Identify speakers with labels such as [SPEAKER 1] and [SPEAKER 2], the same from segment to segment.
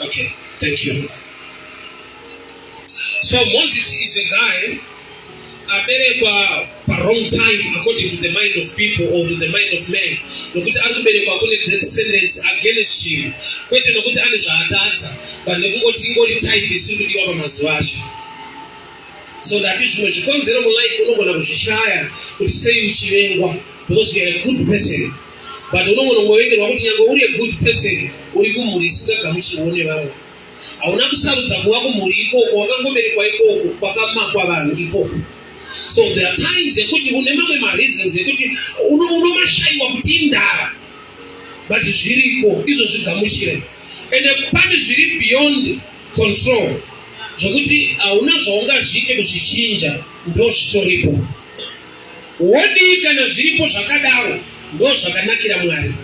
[SPEAKER 1] Okay, thank you. So Moses is a guy aberekwa pa wrong time according to the mind of people or to the mind of man nokuti ari kuberekwa kune descendants against him kwete nokuti ane zvaatadza but nekungoti ingori type isiri kudiwa pamazuva acho so that zvimwe zvikonzero mulife unogona kuzvishaya kuti sei uchivengwa because youare a good person but unongonongovengerwa kuti nyange uri a good person uri kumhuri isingagamuchirwo nevamwe hauna kusarudza kuva kumhuri ikoko wakangoberekwa ikoko kwakamakwa vanhu ikoko so there are times ekuti une mamwe mareasons ekuti unomashaiwa kuti indara but zviriko izvo zvigamuchire ende pane zviri beyond control zvokuti hauna zvaungazviite kuzvichinja ndozvitoripo Wodii kana zviripo zvakadaro? Ndozvakanakira Mwari.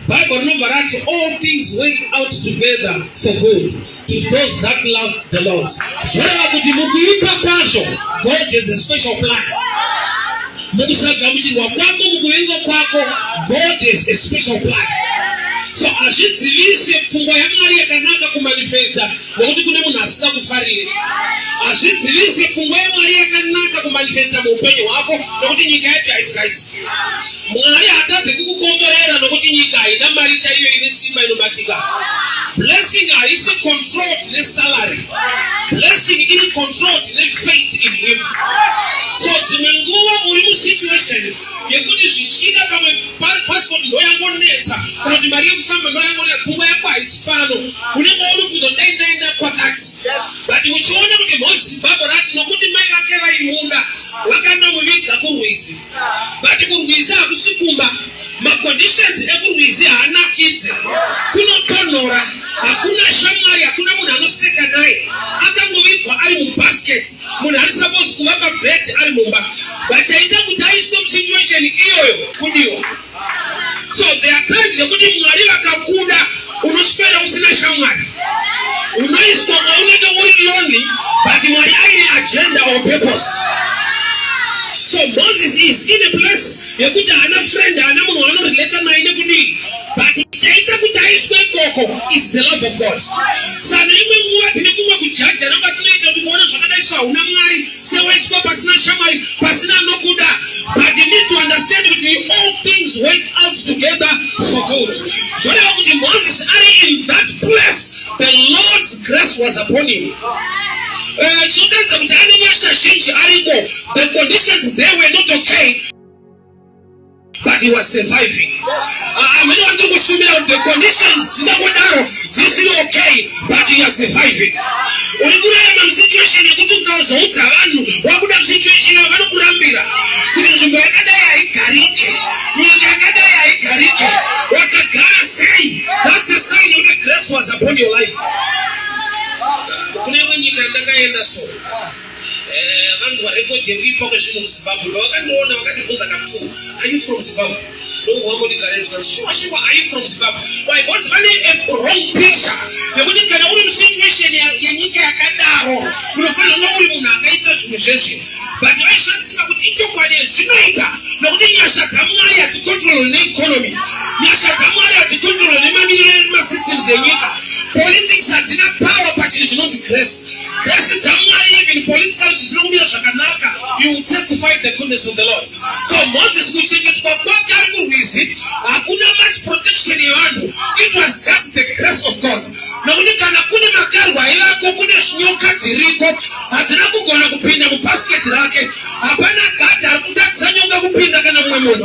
[SPEAKER 1] Bible rinobva rati all things work out together for good to those that love the Lord. Zvoreva kuti mukuipa kwazvo God has a special plan. Mukusagamuchirwa kwako, mukuvenga kwako, God has a special plan. So hazvidzivise pfungwa yaMwari yakanaka kumanifesta nokuti kune munhu asina kufarire. hazvidzivise pfungwa yemwari yakanaka kumanifesta muupenyu hwako nokuti nyika yacho haisikaitiki mwari hatadze kukukomborera nokuti nyika haina mari chaiyo ine simba inobatika blessing haisi controlled nesalary blessing iri controlled nefaith in him so dzimwe nguva muri musituation yekuti zvichida pamwe passport ndoyangonetsa kana kuti mari yekufamba ndoyangonetsa pfungwa yako haisi pano unenge unofunga kuti dai ndaenda kwakati but uchiona kuti mhozi zimbabwe rati nokuti mai vake vaimuda vakanomuviga kurwizi but kurwizi hakusi kumba maconditions ekurwizi haanakidze kunotonhora hakuna shamwari hakuna munhu anoseka naye akangovigwa ari mubasket munhu ari suppose kuva pabed ari mumba but chaita kuti aiswe musituation iyoyo kudiwa so there are times yekuti mwari vakakuda unoswera usina shamwari unoiswa maunenge uri loni but mwari aine agenda or purpose so moses is in a place yekuti haana friend haana munhu waanorelata naye nekudii but chaita kuti aiswe ikoko is the love of God. Saka imwe nguva tine kumwe kujaja namba tinoita kuti kuona zvakadai so hauna Mwari sewaiswa pasina shamwari pasina anokuda but you need to understand kuti all things work out together for good. Zvoreva kuti Moses ari in that place the Lord's grace was upon him. Eh, chinotaridza kuti ane nyasha zhinji ariko the conditions there were not okay but he was surviving amene ah, wati kushumira kuti the conditions dzinangodaro dzisiri okay but you are surviving uri kurarama musituation yekuti ukazoudza vanhu wakuda musituation yavo vanokurambira kuti nzvimbo yakadai haigarike nyika yakadai haigarike wakagara sei that's a sign yekuti grace was upon your life kune imwe nyika ndakaenda so Eh, vanhu varecord yekuipa kwezvinhu muzimbabwe pavakandiona vakandibvunza ka two are you from zimbabwe ndobva vangondigareizva sure sure are you from zimbabwe why because vane a wrong picture yekuti kana uri musituation yenyika yakadaro unofanira kuva uri munhu akaita zvinhu zveshe but vaishandisika kuti ichokwadi zvinoita nokuti nyasha dzamwari hadzicontrol neeconomy Nyasha dzaMwari hadzikontrolwe nemamiriro edu masystems enyika. Politics hadzina power pachinhu chinonzi grace. Grace dzaMwari even politically zvisina kumira zvakanaka you will testify the goodness of the Lord. So Moses kuchengetwa kwake ari kurwizi hakuna much protection yevanhu. It was just the grace of God. Nokuti kana kune makarwa aivako kune nyoka dziriko hadzina kugona kupinda mubasket rake. Hapana gadhi ari kutadzisa nyoka kupinda kana mumwe munhu.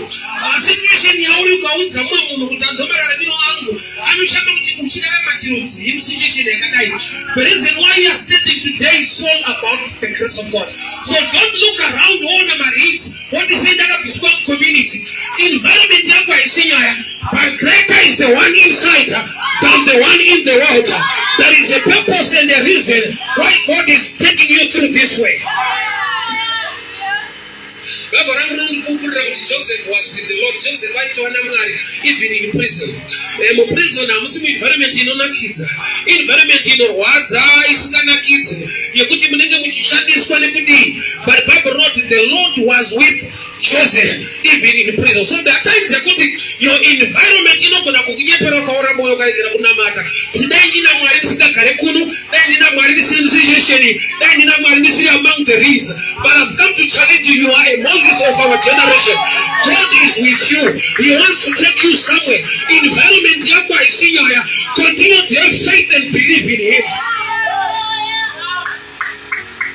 [SPEAKER 1] Ah, situation yauri ukaudza mumwe munhu kuti andoma raramiro angu anoshamba kuti uchirarama chiro chii musituation yakadai the reason why you are standing today is all about the grace of god so don't look around woona marix woti sei ndakabviswa mucommunity environment yako haisi nyaya but greater is the one inside than the one in the world there is a purpose and a reason why god is taking you through this way Vabva randinondipupurira kuti Joseph was with the Lord. Joseph aitova naMwari even in prison. Eh, muprison hamusi muenvironment inonakidza. Environment inorwadza isinganakidzi yekuti munenge muchishandiswa nekudii. But Bible wrote the Lord was with Joseph even in prison. So there are times yekuti your environment inogona kukunyepera ukaora moyo ukaregera kunamata. kuti dai ndina mwari ndisingagare kuno dai ndina mwari ndisiri musishesheni dai ndina mwari ndisiri among the reeds but i've come to challenge you you are a moses of our generation god is with you he wants to take you somewhere environment yako haisi nyaya continue to have faith and believe in him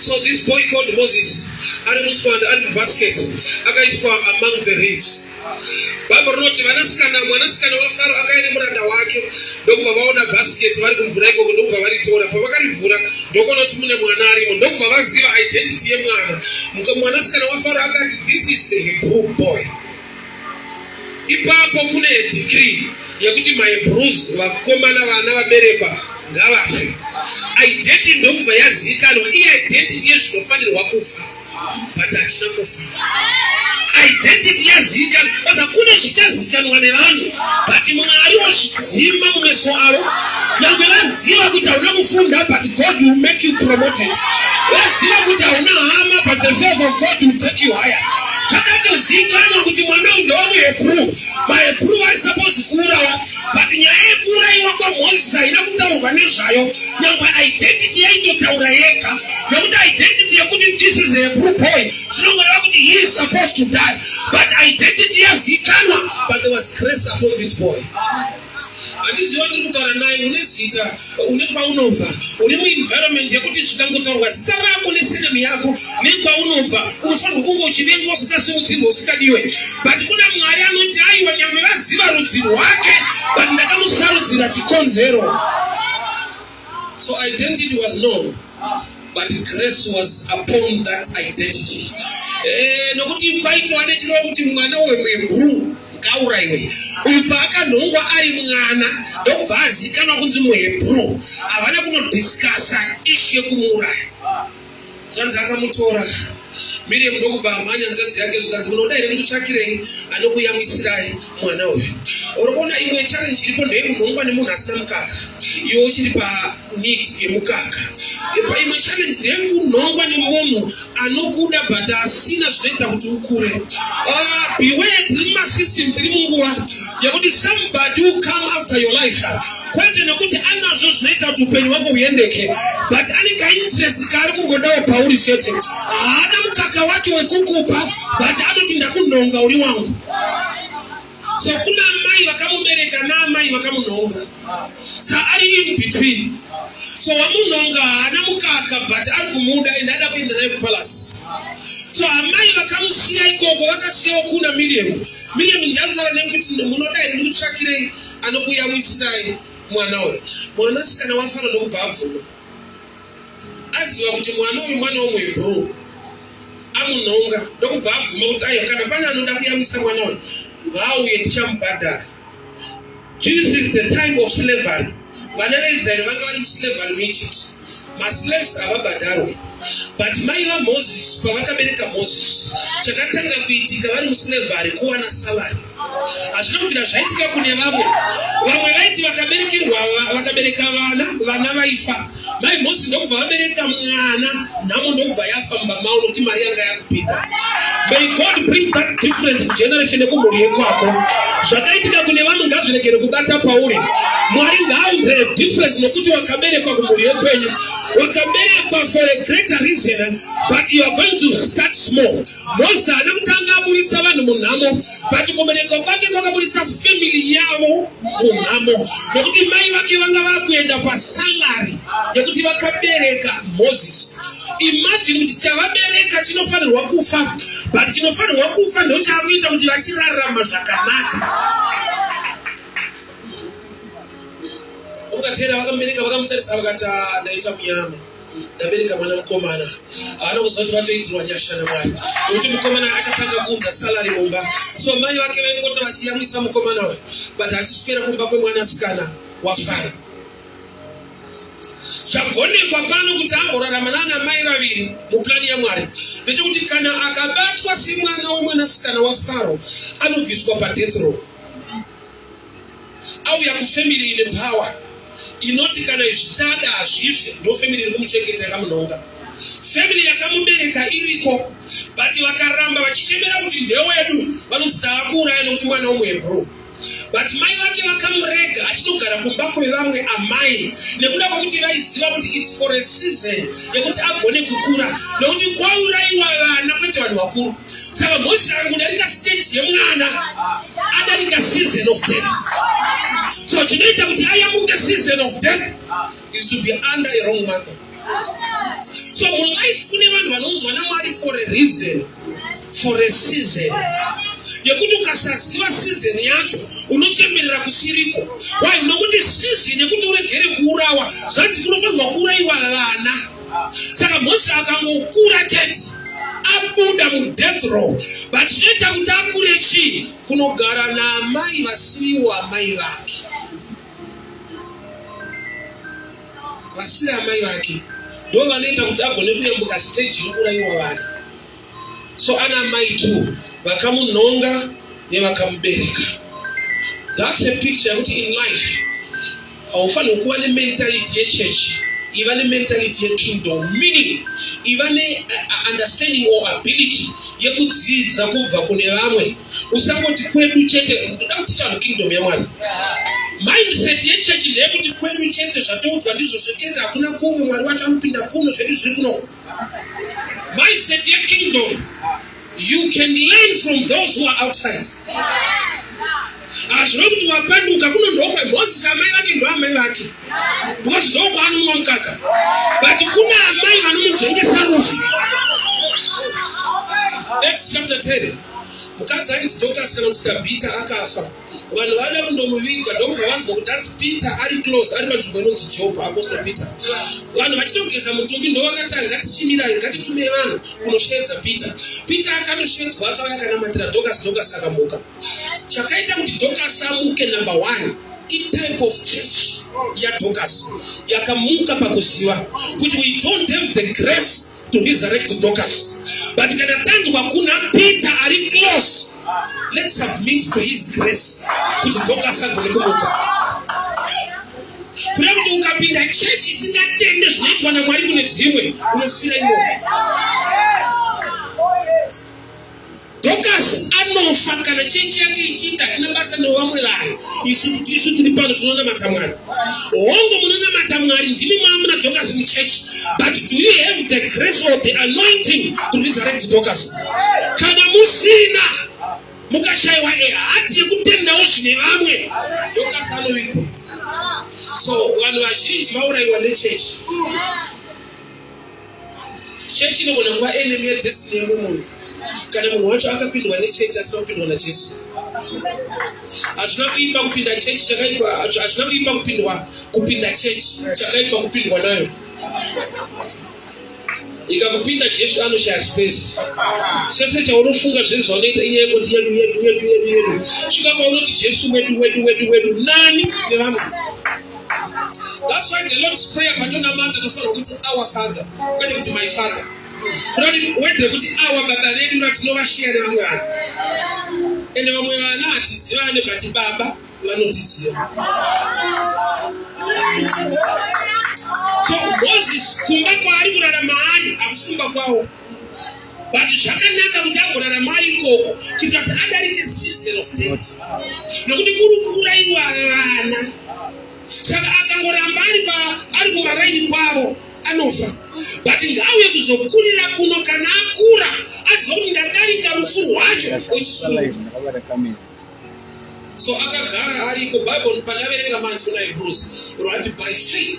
[SPEAKER 1] So this boy called Moses ari mutswanda ari mubasket akaiswa among the reeds. Bhaibheri rinoti vanasikana mwanasikana waFaro akauya nemuranda wake ndokubva vaona basket vari kumvura ikoko ndokubva varitora. Pavakarivhura ndokuona kuti mune mwana arimo ndokubva vaziva identity yemwana. Mwanasikana waFaro akati this is the Hebrew boy. Ipapo kune decree yekuti my bruise vakomana vana vaberekwa ngavafe. Identity ndokubva yazikanwa iye identity yezvinofanirwa kufa but hachina kufa. Identity yazikanwa osa kune zvichazikanwa nevanhu. but mwari wozvidzima mumeso avo nyangwe vaziva kuti hauna kufunda but god will make you promoted vaziva kuti hauna hama but the favor of god will take you higher zvakatozikanwa kuti mwana uyu ndewamuhebrew mahebrew vari suppose kuurawa but nyaya yekuuraiwa kwamozisi haina kutaurwa nezvayo nyangwe identity yaitotaura yega nokuti identity yekuti this is a hebrew boy zvinongoreva kuti he is supposed to die but identity yazikanwa But there was grace upon this boy. handiziva ndiri kutaura naye une zita une kwaunobva uri muenvironment yekuti zvikangotaurwa zita rako nesenemu yako nekwaunobva unofanirwa kunge uchivengwa usikasiudzirwa usikadiwe but kuna mwari anoti aiwa nyangwe vaziva rudzi rwake but ndakamusarudzira chikonzero So identity was known but grace was upon that identity. Eh, nokuti paitwa nechirova kuti mwana wemhebhuru ngauraiwe uyu paakanhongwa ari mwana ndokubva azikanwa kunzi muhebhuru havana kunodiscasa ishi yekumuuraya Zvanzi akamutora Miriam ndokubva amhanya hanzvadzi yake zvikanzi munoda here ndikutsvakirei anokuyamwisirai mwana uyu. Uri kuona imwe challenge iripo ndeyekunhongwa nemunhu asina mukaka iwe uchiri paneed yemukaka. Epa imwe challenge ndeyekunhongwa nemunhu anokuda but asina zvinoita kuti ukure. Ah, beware tiri mumasystem tiri munguva yekuti somebody will come after your life kwete nekuti anazvo zvinoita kuti upenyu hwako huendeke but ane kainterest kaari kungodawo pauri chete haana mukaka wacho wekukupa but anoti ndakunhonga uri wangu sekuna mai vakamubereka naamai vakamunhonga sa ari in between so wamunhonga haana mukaka but ari kumuda and ada kuenda naye kupalasi so amai vakamusiya ikoko vakasiyawo kuna miriam miriam ndiyakutara nekuti munodai ndikutsvakirei anokuyamwisirai mwana uyu mwana sikana wafana nokubva abvuma aziva kuti mwana uyu mwana womwe bro amunhonga ndokubva abvuma kuti aiwa kana pane anoda kuyamwisa mwana uyu ngaauye ndichamubhadhara this is the time of slavery vana veisraeri vanga vari muslavery muegypt maslaves havabhadharwe but mai vamozisi pavakabereka mozisi chakatanga kuitika vari muslavery kuwana salary hazvina kubvira zvaitika kune vamwe vamwe vaiti vakaberekerwa vakabereka vana vana vaifa mai mhosi ndokubva vabereka mwana nhamo ndokubva yafa mumba mavo nokuti mari yanga yakupinda may god bring that difference mugeneration nekumhuri yekwako zvakaitika kune vamwe ngazviregere kubata pauri mwari ngaaunze difference nokuti wakaberekwa kumhuri yekwenyu wakaberekwa for a greater reason but you are going to start small mose haana kutanga aburitsa vanhu munhamo but kuberekwa kwake kwakaburitsa family yavo munhamo nekuti mai vake vanga vakuenda pasalary yekuti vakabereka moses imagine kuti chavabereka chinofanirwa kufa but chinofanirwa kufa ndochakuita kuti vachirarama zvakanaka Ukateera vakamubereka vakamutarisa vakati ah, ndaita muyama ndabereka mwana mukomana anokuziva kuti vatoitirwa nyasha namwari nokuti mukomana achatanga kuunza salari mumba so mai vake vaipota vachiyamwisa mukomana uyu but achiswera kumba kwemwana asikana wafara zvagonekwa pano kuti amborarama nana mai vaviri muplani yamwari ndechekuti kana akabatwa semwana wemwanasikana wafaro anobviswa padeath row auya kufamily ine power inoti kana zvitada hazvife ndofamily iri kumuchengeta yakamunhonga family yakamubereka iriko but vakaramba vachichemera kuti ndewedu vanonzi taakuuraya nokuti mwana umwe bro but mai vake vakamurega achinogara kumba kwevamwe amai nekuda kwekuti vaiziva kuti its for a season yekuti agone kukura nokuti kwauraiwa vana kwete vanhu vakuru saka mhozi yangu kudarika state yemwana adarika season of death so chinoita kuti ayamuke season of death is to be under a wrong mother so mulife kune vanhu vanonzwa namwari for a reason for a season yekuti ukasaziva season yacho unochemerera kusiriko why nokuti season yekuti uregere kuurawa zvanzi kunofanirwa kuuraiwa vana saka mose akangokura chete abuda mudeath row but chinoita kuti akure chii kunogara naamai vasiriwo amai vake vasiri amai vake ndo vanoita kuti agone kuyambuka stage inouraiwa vana so ana mai two vakamunhonga nevakamubereka thats a picture yekuti in life haufanirwi kuva nementality yechurch iva nementality yekingdom meaning iva neunderstanding uh, or ability yekudzidza kubva kune vamwe usangoti kwedu chete ndoda kuti chanhu kingdom yamwana mindset yechechi ndeyekuti kwedu chete zvatoudzwa ndizvozvo chete hakuna kumwe mwari wacho anopinda kuno zvedu zviri kuno Mindset ye kingdom. You can learn from those who are outside. Hazvino kuti wapanduka kuno ndokwe Moses amai vake ndo amai vake. Because ndokwa anomwa mukaka. But kuna amai vanomujengesa rufu. Acts chapter 10. Mukadzi ainzi Dorcas kana kuti Tabita akafa. vanhu vada kundomuviga ndokubva vanzwa kuti hanzi peter ari close ari panzvimbo inonzi job apostle peter vanhu vachitogeza mutumbi ndovakatanga ngatichimirai ngatitumei vanhu kunosheedza peter peter akandosheedzwa akauya akanamatira dokas dokas akamuka chakaita kuti dokas amuke number one itype of church yadokas yakamuka pakuziva kuti we don't have the grace to resurrect Dorcas. But kana tanzwa kuna Peter ari close, let's submit to his grace kuti Dorcas agone kumuka. Kuda kuti ukapinda church isingatende zvinoitwa naMwari kune dzimwe, unofira imomo. Dhokasi anofa kana chechi yake ichiita haina basa nevamwe vanhu. Isu kuti isu tiri pano tinonamata Mwari. Hongu munonamata Mwari ndimi mwamuna Dhokasi muchechi. But do you have the grace or the anointing to resurrect Dhokasi? Kana musina mukashaiwa ehati yekutendawo zvine vamwe Dhokasi anovigwa. So vanhu vazhinji vauraiwa nechechi. Chechi inogona kuva enemy yedestiny yako munhu kana munhu wacho akapindwa nechechi asina kupindwa najesu hazvina kuipa kupinda chechi chakaipa hazvina kuipa kupindwa kupinda chechi chakaipa kupindwa nayo ikakupinda jesu anoshaya space chese chaunofunga zvese zvaunoita inyaya yekuti yedu yedu yedu yedu yedu svika paunoti jesu wedu wedu wedu wedu nani nevanhu That's why the Lord's prayer patonamata tofanirwa kuti our father kwete kuti my father wedzere kuti awa baba vedu vatinovasheya nevamwe vanhu ende vamwe vana hatiziva vane bati baba vanotiziva so moses kumba kwaari kurarama ani hakusi kumba kwawo but zvakanaka kuti agorarama ikoko kuitira kuti adarike season of death nokuti kuri kuuraiwa vana saka akangoramba ari pa ari kumaraini kwavo anofa but ngauye kuzokurira kuno kana akura aziva kuti ndadarika rufu rwacho so akagara ariko bible panaverenga manji kuna hebrews rwati by faith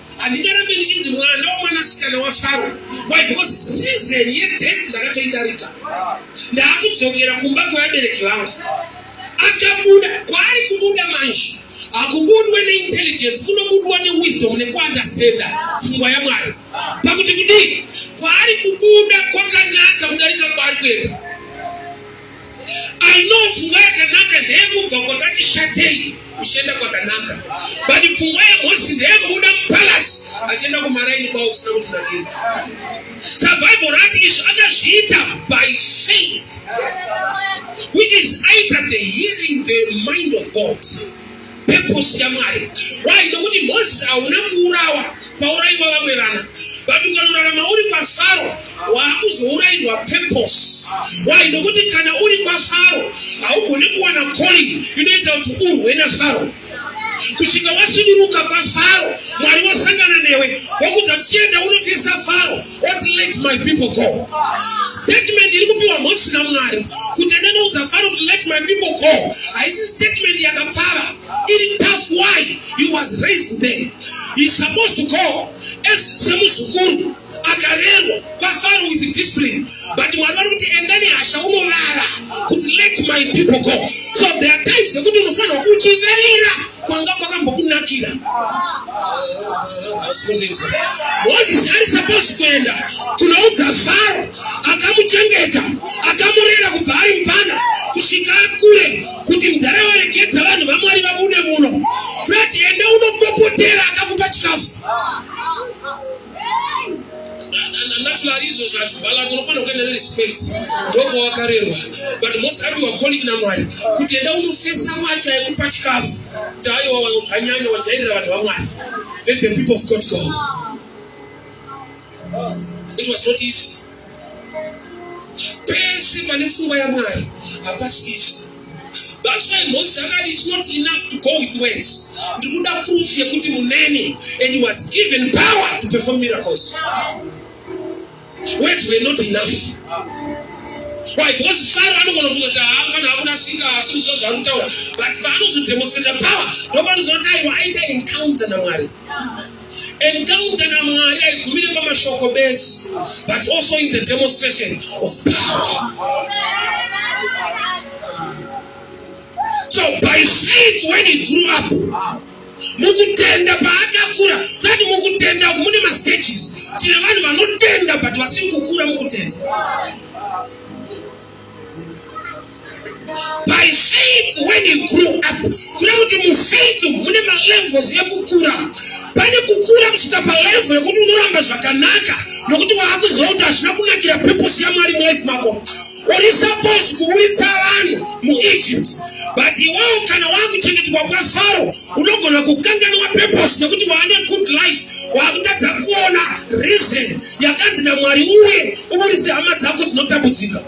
[SPEAKER 1] handingarambe ndichinzi mwana wemwanasikana wafaro why because season yedeath ndakatoidarika ndaakudzokera kumba kwevabereki vangu akabuda kwaari kubuda manje hakubudwe neintelligence kunobudwa newisdom nekuundestanda pfungwa yamwari pakuti kudii kwaari kubuda kwakanaka kudarika kwaari kuenda Aino pfungwa yakanaka ndeyekubva kwakati shatei uchienda kwakanaka but pfungwa yehosi ndeyekubuda mupalasi achienda kumaraini kwavo kusina kuti nakira sa bible rati izvo akazviita by faith which is either the hearing the mind of god purpose yaMwari. Why? Nokuti Moses hauna kuurawa pauraiwa vamwe vana but ukanorarama uri kwaFaro waakuzourairwa purpose. Why? Nokuti kana uri kwaFaro haugone kuwana calling inoita kuti urwe naFaro kusvika wasuduruka kwaFaro Mwari wasangana newe wokuti tichienda unofesa Faro What let my people go? Statement iri kupiwa Mhosi naMwari kuti enda noudza Faro kuti let my people go. Haisi statement yakapfava. Iri tough why he was raised there. He is supposed to go as semuzukuru akarerwa kwaFaro with discipline. But Mwari vari kuti enda nehasha unovava kuti let my people go. So there are times yekuti unofanirwa kuchiverera kwanga kwakambokunakira mozisi ari saposi kuenda kunoudza faro akamuchengeta akamurera kubva ari mvana kusvika akure kuti mudhara waregedza vanhu vamwari vabude muno kuti enda unopopotera akakupa chikafu natural izvo zvazvibalance unofanira kuenda nerespect ndobva wakarerwa but most ati wacoling namwari kuti enda unofesa wacho aikupa chikafu kuti aiwa wazvanyanya wajairira vanhu vamwari let the people of god go it was not easy Pese pane pfungwa yaMwari hapasi izvi. That's why Moses akati it's not enough to go with words. Ndikuda proof yekuti muneni and he was given power to perform miracles. Words were not enough. Why? Because Pharaoh anogona kufunga kuti haa kana akurasika asi kuzva zvaari kutaura but paanozodemonstrata power ndopanozoti aiwa aita encounter naMwari. Encounter naMwari haigumire pamashoko bedzi but also in the demonstration of power. So by faith when he grew up mukutenda paakakura vati mukutenda mune mastages tine vanhu vanotenda but vasiri kukura mukutenda By faith when you grew up, kuna kuti mufaith mune malevels ekukura. Pane kukura kusvika palevel yekuti unoramba zvakanaka nokuti waakuziva kuti hazvina kunakira purpose yaMwari mulife mako. Uri supposed kuburitsa vanhu muEgypt but iwewo kana waakuchengetwa kwaFaro unogona kukanganwa purpose nekuti waane good life waakutadza kuona reason yakanzi naMwari uye uburitse hama dzako dzinotambudzika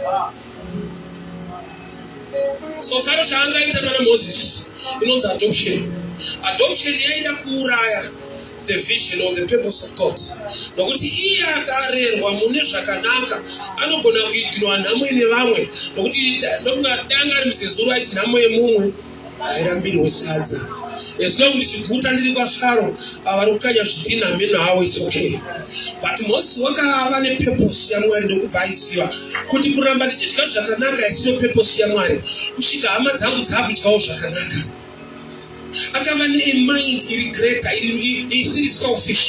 [SPEAKER 1] so faro chaangaita pana moses inonzi adoption adoption yaida kuuraya the vision or the purpose of god nokuti iye akarerwa mune zvakanaka anogona kuignwa nhamo ine vamwe nokuti ndofunga danga ari muzezuru aiti nhamo yemumwe hairambirwe sadza as long ndichiguta ndiri kwafaro avari kukanya zvidhinha meno hawo its okay but mose wakava nepurpose yamwari ndokupa aiziva kuti kuramba ndichidya zvakanaka haisino purpose yamwari kusvika hama dzangu dzakudyawo zvakanaka akava nemind iri greater isiri selfish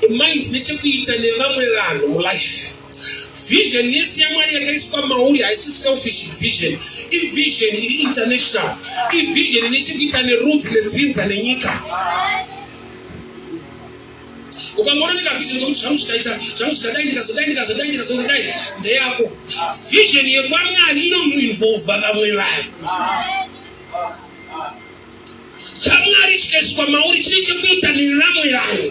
[SPEAKER 1] emind nechekuita nevamwe vanhu mulife Vision yese yaMwari yakaiswa mauri haisi selfish vision. Ivision iri international. Ivision ine chekuita nerudzi nedzinza nenyika. Ukangoona nekavision kekuti zvangu zvikaita zvangu zvikadai ndikazodai ndikazodai ndikazodai ndeyako. Vision yekwaMwari inomuinvolva vamwe vanhu. ChaMwari chikaiswa mauri chine chekuita nevamwe vanhu.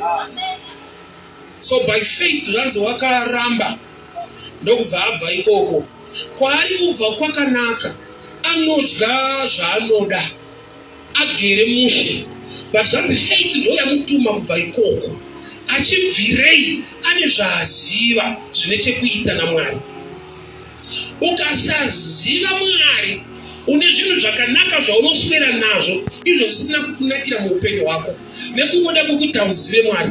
[SPEAKER 1] So by faith zvanzi wakaramba ndokubva abva ikoko. Kwaari kubva kwakanaka anodya zvaanoda agere mushe but zvanzi faith ndo yamutuma kubva ikoko achibvirei ane zvaaziva zvine chekuita namwari ukasaziva mwari une zvinhu zvakanaka zvaunoswera nazvo izvo zvisina kukunakira muupenyu hwako nekungoda kwokuti hauzive mwari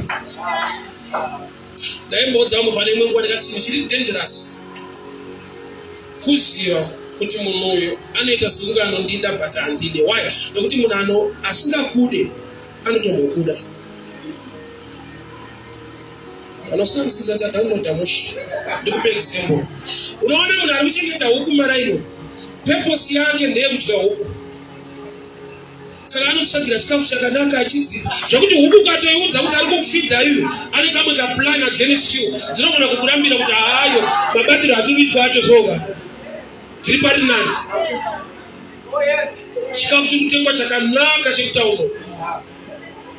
[SPEAKER 1] ndaimboudza vamwe pane imwe nguva ndikati chinhu chiri dangerous kuziva kuti munhu uyu anoita sekunge anondida but handide why nekuti munhu ano asingakude anotombokuda Kana usina muzinda tadownloada mushe. Ndikupe example. Unoona munhu ari kuchengeta huku maraino. Purpose yake ndeye kudya huku. Saka anotsvagira chikafu chakanaka achidzi zvekuti huku ukatoiudza kuti ari kukufidha iyu ane kamwe kaplan against you dzinogona kukurambira kuti haayo mabatiro atiri kuitwa acho zvoga tiri pari nani chikafu chiri kutengwa chakanaka chekutaura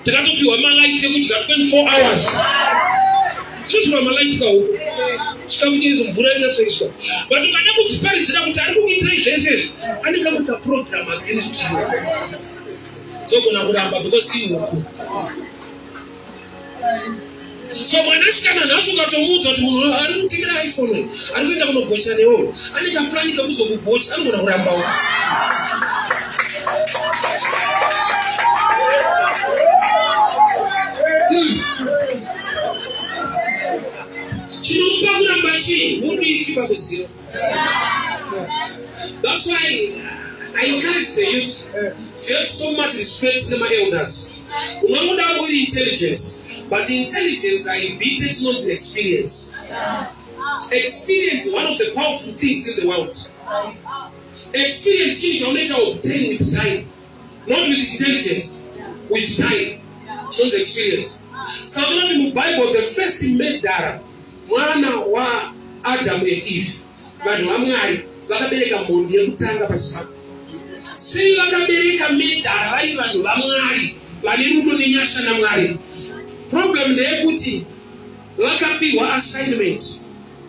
[SPEAKER 1] takatopiwa malights ekudya 24 hours tinotora malights kawo chikafu cheizo mvura inatsoiswa but ukada kudziparidzira kuti ari kukuitirai zvese izvi anenge kuita program against you zogona kuramba because ihuku so mwanasikana nhasi ukatomuudza kuti munhu ari kutengera iphone ari kuenda kunogocha newo ane kapurani kekuzokugocha anogona kurambawo chinomupa kuramba chii mudiki pakuziva That's why I encourage the youth to have so much respect to my elders. Unangoda uri intelligent, but intelligence haibite chinonzi experience. Experience is one of the powerful things in the world. Experience chinhu chaunoita obtain with time, not with intelligence, with time. Chinonzi experience. Saka unoti muBible the first murderer Mwana wa Adamu and Eve, vanhu vaMwari, vakabereka mhondi yekutanga pasi pano. Sei vakabereka medhara vari vanhu vaMwari, vane rudo nenyasha naMwari? Problem ndeyekuti vakapihwa assignment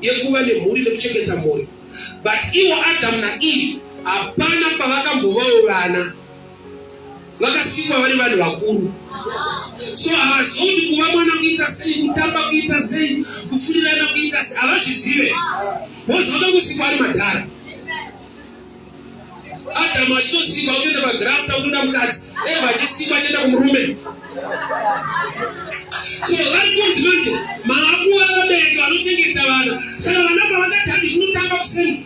[SPEAKER 1] yekuva nemhuri nekuchengeta mhuri, but ivo Adamu na Eve hapana pavakambovawo vana. vakasikwa vari vanhu vakuru so havazivi kuti kuva mwana kuita sei kutamba kuita sei kufurirana kuita sei havazvizive bhozi vakakusikwa ari madhara adamu achitosikwa kutoenda pagrafta kutoda mukadzi eva achisikwa achienda kumurume so vari kunzi manje maakuva vabereki vanochengeta vana saka vana pavakatandi kunotamba kuseni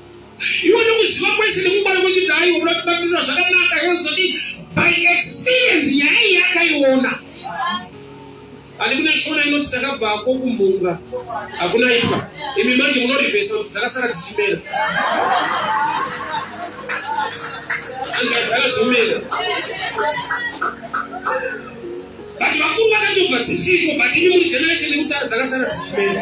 [SPEAKER 1] iwe nokuziva kwese nekungwara kwechiti aiwa kuda kubatirira zvakanaka yozodi by experience nyaya iyi akaiona ani kune shona inoti takabva ko kumbunga hakuna ipa imi manje munorivhesa kuti dzakasara dzichimera anga dzakazomera but vakuru vakatobva dzisiko but imi muri generation yekutara dzakasara dzichimera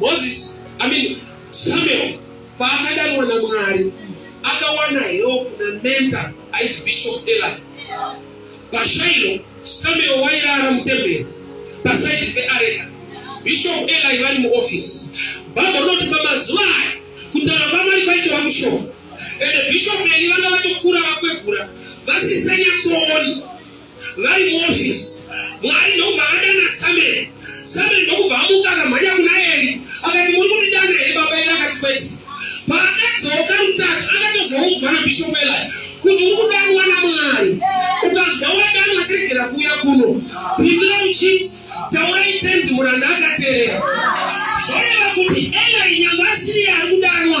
[SPEAKER 1] Moses, I mean Samuel paakadanwa naMwari akawana help namenta aiti Bishop Eli. Pashailo Samuel wairara mutemberi pasaidi peareka. Bishop Eli vari muoffice. Baba unoti pamazuva aya kutaura kwamwari kwaitova kushoma. Ende Bishop Eli vanga vatokura vakwegura vasisanyatsooni. Vari muofisi, Mwari ndokubva akadana Samueri. Samueri ndokubva amuka akamhanya kuna Eri akati, Muri kundidana here baba? Eri akati, Kwete. Paakadzoka rutatu akatozoudzwa naBishop Eli kuti uri kudanwa naMwari. Ukanzwa wadanwa chiregera kuuya kuno, pindura uchiti, Taurai tenzi, muranda akateerera. Zvoreva kuti Eli nyangwe asiriye ari kudanwa.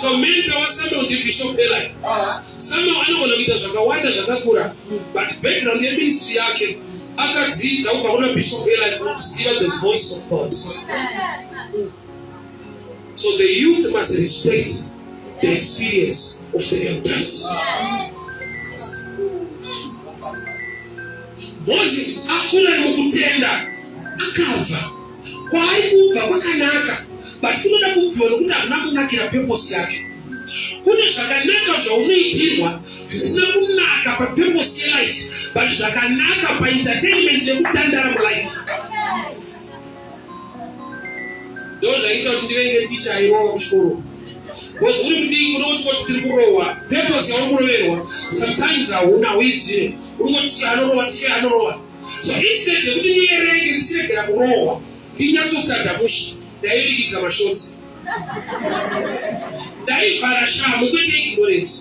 [SPEAKER 1] so mentor wasama ndi bishop eli sama anogona kuita zvakawanda zvakakura but background yeministry yake akadzidza kubva kuna bishop eli kuziva the voice of god so the youth must respect the experience of the elders moses akura mukutenda akabva Kwaari kubva kwakanaka but kunoda kubviwa nokuti hamuna kunakira purpose yake. Kune zvakanaka zvaunoitirwa zvisina kunaka papurpose yelife but zvakanaka paentertainment nekutandara mulife. Ndoo zvaita kuti ndivenge ticha irowa kuchikoro because uri mudiki unokuti kuti tiri kurohwa purpose yauri kuroverwa sometimes hauna hauizive uri kuti ticha anorova ticha anorova So instead yekuti ndierenge ndichiregera kurohwa ndinyatsostada mushe ndairingidza mashotsi ndaivhara shamu kwete ignorance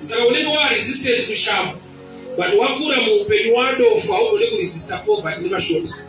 [SPEAKER 1] saka unenge waresistance kushamu but wakura muupenyu wadofo haugone kuresista poverty nemashoti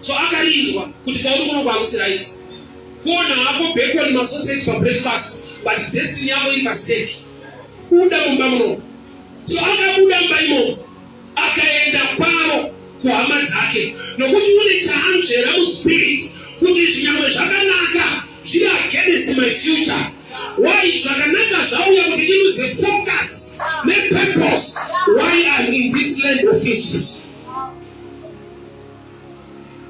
[SPEAKER 1] So akarinzwa kuti kwauri kuno kwakusi right. Kuona hako bacon masausage pabreakfast but destiny yako iri pastake. Buda mumba muno. So akabuda mumba imomo akaenda kwaro kuhama dzake nokuti une chaanzvera muspirit kuti zvinyamwe zvakanaka zviri against my future why zvakanaka zvauya kuti ndiruze focus nepurpose why am in this land of egypt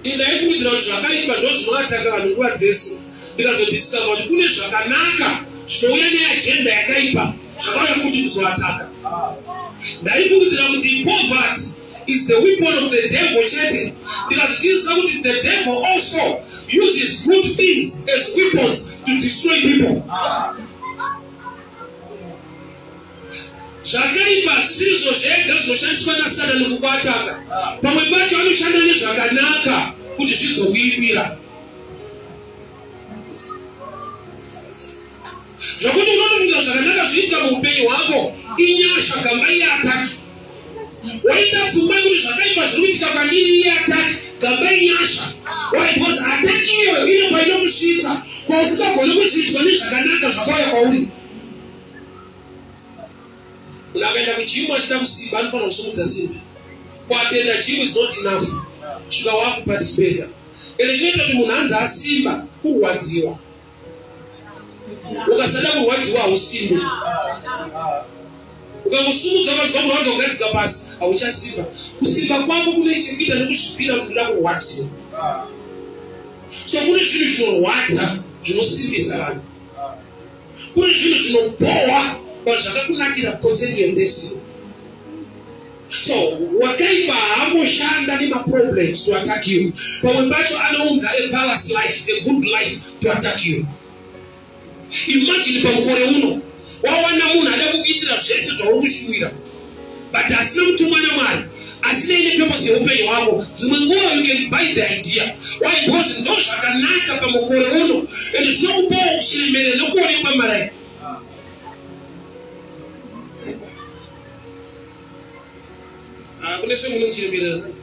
[SPEAKER 1] Ini ndaifungidzira kuti zvakaipa ndozvinoataka vanhu nguva dzese ndikazodiscover kuti kune zvakanaka zvinouya neagenda yakaipa zvakauya futi kuzoataka. Ndaifungidzira kuti poverty is the weapon of the devil chete ndikazvidzidzisa kuti the devil also uses good things as weapons to destroy people. Zvakaipa hazvisizvo zvega zvinoshandiswa naSatani kukuataka. Pamwe pacho anoshanda nezvakanaka kuti zvizokuipira. Zvokuti unotofunga zvakanaka zviitika muupenyu hwako inyasha gamba iye ataki. Waita pfungwa yekuti zvakaipa zviri kuitika kwandiri iye ataki gamba inyasha. Why? Because ataki iyoyo inopa inokusvitsa kwausingagoni kusvitswa nezvakanaka zvakauya kwauri. Munhu akaenda kujimu achida kusimba anofanira kusumudza simbi. Kuatenda jimu is not enough. Svika wakuparticipate. Ende chinoita kuti munhu anzi asimba kurwadziwa. Ukasada kurwadziwa hausimbe. Ukakusumudza ukanzwa kurwadza ukadzika pasi hauchasimba. Kusimba kwako kune chekuita nekuzvipira kuti uda kurwadziwa. So kune zvinhu zvinorwadza zvinosimbisa vanhu. Kune zvinhu zvinobhowa but zvakakunakira because of your destiny. So wakaipa haamboshanda nemaproblems to attack you. Pamwe pacho anounza a palace life, a good life to attack you. Imagine pamukore uno wawana munhu ada kukuitira zvese zvauri kushuwira but hasina kutumwa namwari asinei nepurpose yeupenyu hwako dzimwe nguva you can buy the idea why because ndo zvakanaka pamukore uno and zvinokupawo kuchiremere nokuonekwa marai ah, kune semunochiremerera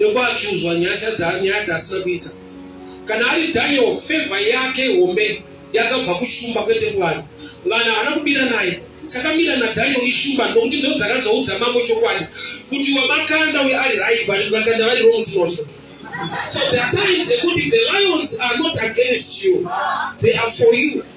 [SPEAKER 1] nekuakiuzwa nyasha dza nyaya dzaasina kuita kana ari daniel favor yake hombe yakabva kushumba kwete kuvanhu vanhu havana kubira naye chakamira nadaniel ishumba nokuti ndo dzakazoudza mambo chokwadi kuti wamakanda uye ari right vanhu vakanda vari wrong tinotya so the times ekuti the lions are not against you they are for you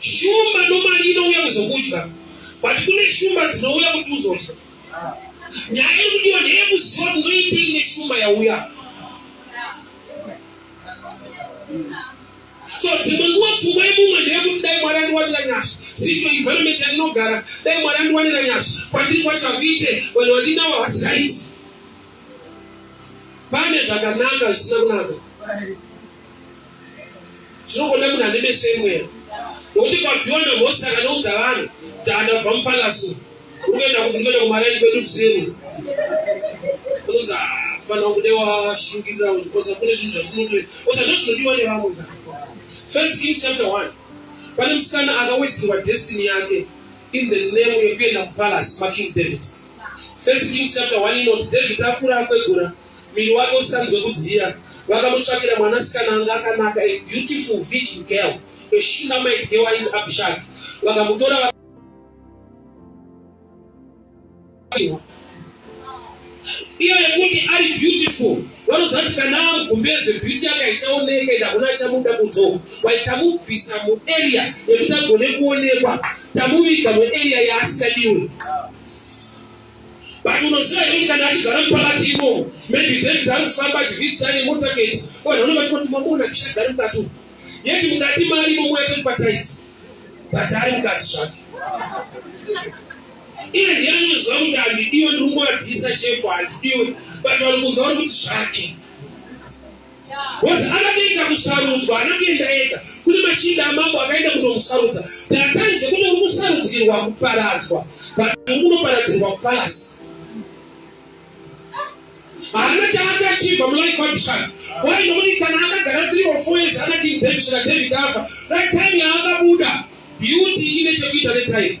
[SPEAKER 1] Shumba nomari inouya kuzokudya but kune shumba dzinouya kuti uzodya. Nyaya iri kudiwa ndeyekuziva kuti unoitei neshumba yauya. So dzimwe nguva pfungwa yemumwe ndeyekuti dai Mwari andiwanira nyasha. Sito environment yandinogara dai Mwari andiwanira nyasha kwandiri kwacho akuite vanhu vandinawo havasi right. Pane zvakanaka zvisina kunaka. zvinogonda munhu ane meso emweya nokuti kwabviwa namhosi akanoudza vanhu kuti andabva mupalasu urikuenda kuti ndikuenda kumaraini kwedu kuseni unoza fanira kude washingirira ukosa kune zvinhu zvatinotore osa ndo zvinodiwa nevamwe first kings chapter one pane musikana akawestirwa destiny yake in the name yekuenda kupalace making david first kings chapter one inoti david akura akwegura Muviri wake usanzwe kudziya, vakamutsvakira mwanasikana anga akanaka, a beautiful virgin girl, a Shunammite girl ainzi Abishagi. Vakamutora vaka iyo yekuti ari beautiful vanozvati kana amugumbeze beauty yake haichaoneka ende hakuna achamuda kudzo wai tamubvisa muarea yekuti agone kuonekwa tamuviga muarea yaasingadiwe but unoziva here kuti kana achigara mupakati imomo maybe david ari kufamba achivizita nemotaketi vanhu vanenge vachikoti mamona kishagari mukati umu yeti mukati mari imomo yake mupataiti but ari mukati zvake iye ndiye anoziva kuti handidiwe ndiri kungowadzisa shefu handidiwe but vari kunza vari kuti zvake Boazi akapinda kusarudzwa, haana kuenda ega. Kune machinda amambo akaenda kunomusarudza. There are times ekuti uri kusarudzirwa kuparadzwa, but uri kunoparadzirwa kupalasi. Haana chaakachibva mulife Abishai. Why? Nokuti kana akagara three or four years ana King David kusvika David afa, that time yaakabuda beauty ine chekuita netime.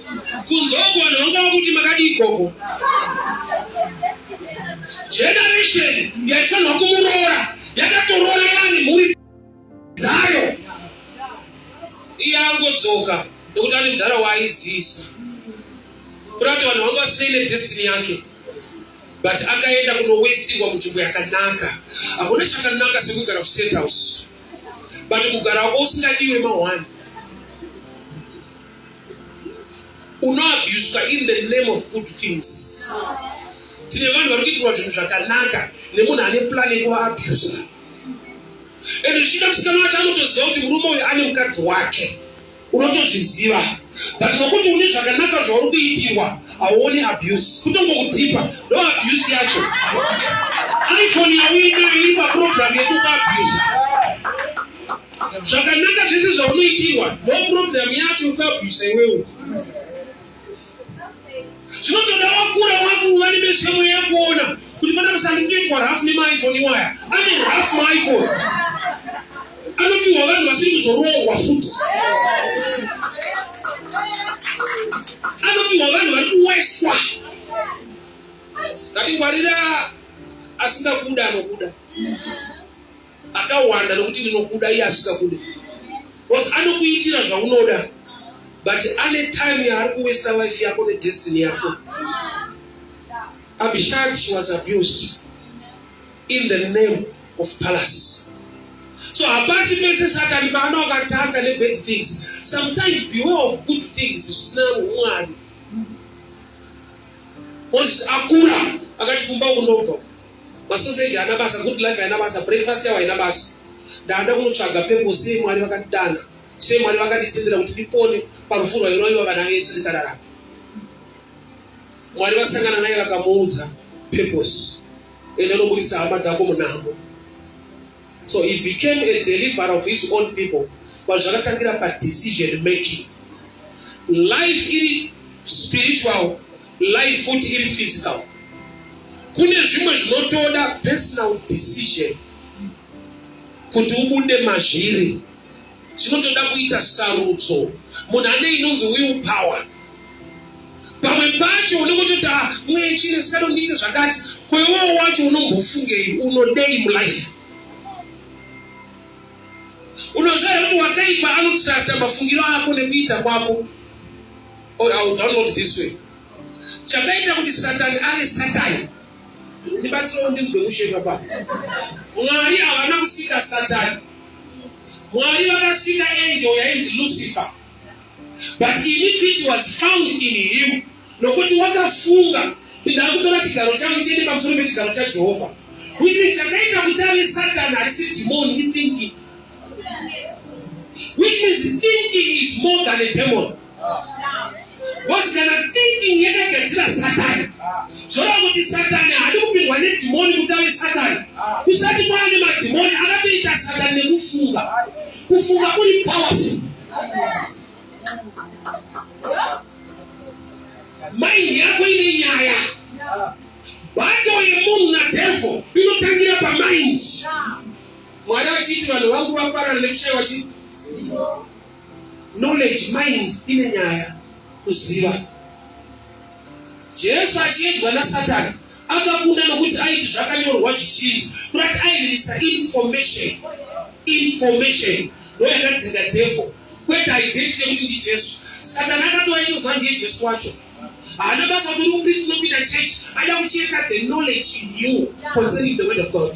[SPEAKER 1] kunzogwa nonga kuti makadii gogo generation yaifanirwa kumuroora yakatoroora yani mhuri dzayo iye angodzoka nekuti ane mudhara waaidziisa kuda kuti vanhu vangu vasinei nedestiny yake but akaenda kunowestirwa munzvimbo yakanaka hakuna chakanaka sekugara kustate house but kugara wako usingadiwe mahwani unoabuswa in the name of good things tine vanhu vari kuitirwa zvinhu zvakanaka nemunhu ane plan yekuvaabuswa and zvichida musikana wacho anotoziva kuti murume uyu ane mukadzi wake unotozviziva but nokuti une zvakanaka zvauri kuitirwa hauoni abuse kutongokutipa ndo abuse yacho iphone yauinayo iri paprogramu yekukuabuse zvakanaka zvese zvaunoitirwa no problem yacho ukabvisa iwewe zvinotoda wakura wakuva nemesemo yakuona kuti mana musandiitwa rafu nemaiphone iwaya ane rafu maiphone anopiwa vanhu vasiri kuzoroorwa futi anopiwa vanhu vari kuweswa ngati ngwarira asingakuda anokuda akawanda nokuti ndinokuda iye asikakude bcause anokuitira zvaunoda but ane time yaari kuwesta life yako nedestiny yako abishag she was abused in the name of palace so hapasi pese satani paano akatanga nebad things sometimes beware of good things zvisina umwari moses akura akati kumba kunobva Masoseji haana basa, good life haina basa, breakfast yawo haina basa. Ndaada kunotsvaga purpose sei Mwari vakatidana, sei Mwari vakatitendera kuti tipone parufu rwairoiwa vana vese tikararama. Mwari vasangana naye vakamuudza purpose, ende unoburitsa hama dzako munhambo. So he became a deliverer of his own people pazvakatangira pa decision making. Life iri spiritual Life futi iri physical. Kune zvimwe zvinotoda personal decision kuti ubude mazviri. Zvinotoda kuita sarudzo. Munhu ane inonzi will power. Pamwe pacho unenge utoti ah mweya chine saka ndiite zvakati. Ko iwewe wacho unombofungei unodei mulife? Unoziva kuti wakaipa anotrusta mafungiro ako nekuita kwako. or I will download this way chakaita kuti satani ave satani ndibatsirawo ndinzwe mushe papa mwari havana kusika satani mwari vakasika angel yainzi lucifer but iniquity was found in him nokuti wakafunga kuti ndakutora chigaro changu chiende pamusoro pechigaro chajehovha kuti chakaita kuti ave satani harisi dhimoni ithinking which means thinking is more than a demon Because kana thinking yakagadzira satani zvoreva kuti satani haadi kupindwa nedhimoni kuti ave satani kusati kwava nemadhimoni akatoita satani nekufunga kufunga kuri powerful maindi yako ine nyaya bato yemunhu nadevho inotangira pamaindi mwari vachiti vanhu vangu vaparana nekushaiwa chii Knowledge, mind ine nyaya kuziva. Jesu achiedzwa naSatani akakunda nokuti aiti zvakanyorwa zvichinzi kurati aendesa information information ndoyakadzinga devil kwete identity yekuti ndi Jesu. Satani akatova itoziva ndiye Jesu wacho haana basa kuti upristi unopinda chechi ada kucheka the knowledge in you concerning the word of God.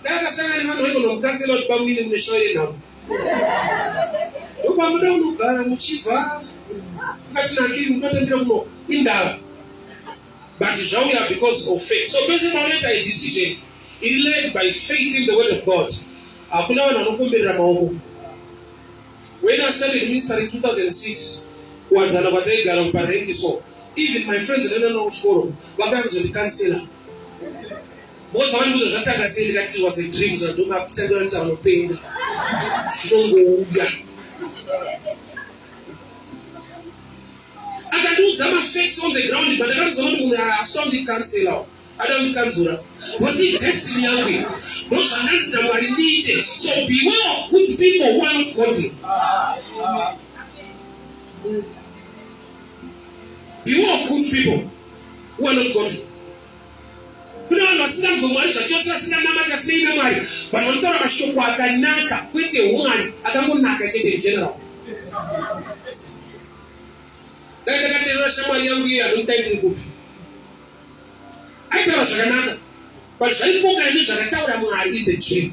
[SPEAKER 1] Ndakasangana nevanhu vaigona kukanzela kuti bamwine mune shoo yenhamo. Ndokwamuda kunogara muchibva mukati nakiri mukatambira kuno indava. But zvauya because of faith. So pese paunoita a decision iri led by faith in the word of God. Hakuna vanhu vanokomberera maoko. When I started ministry in 2006 kuwadzana kwataigara kuparengi so Even my friends ndoenda navo kuchikoro vakauya kuzondikansela because vavandiuza zvatanga sei ndikati it was a dream so ndomatanga ndotaura upenyu zvinongouya akandiudza mafacts on the ground but akatoziva kuti munhu haasita kundikansela ada kundikanzura was it destiny yangu iyi ndozvandanzi namwari ndiite so beware of good people who are not godly mm. beware of good people who are not godly kune vanhu vasinganzwe mwari zvachose vasinganamati asinei nemwari vanhu vanotaura mashoko akanaka kwete humwari akangonaka chete igeneral dai ndakaterera shamwari yangu iye anondaindiri kupi aitaura zvakanaka but zvaipoka ine zvakataura mwari in the dream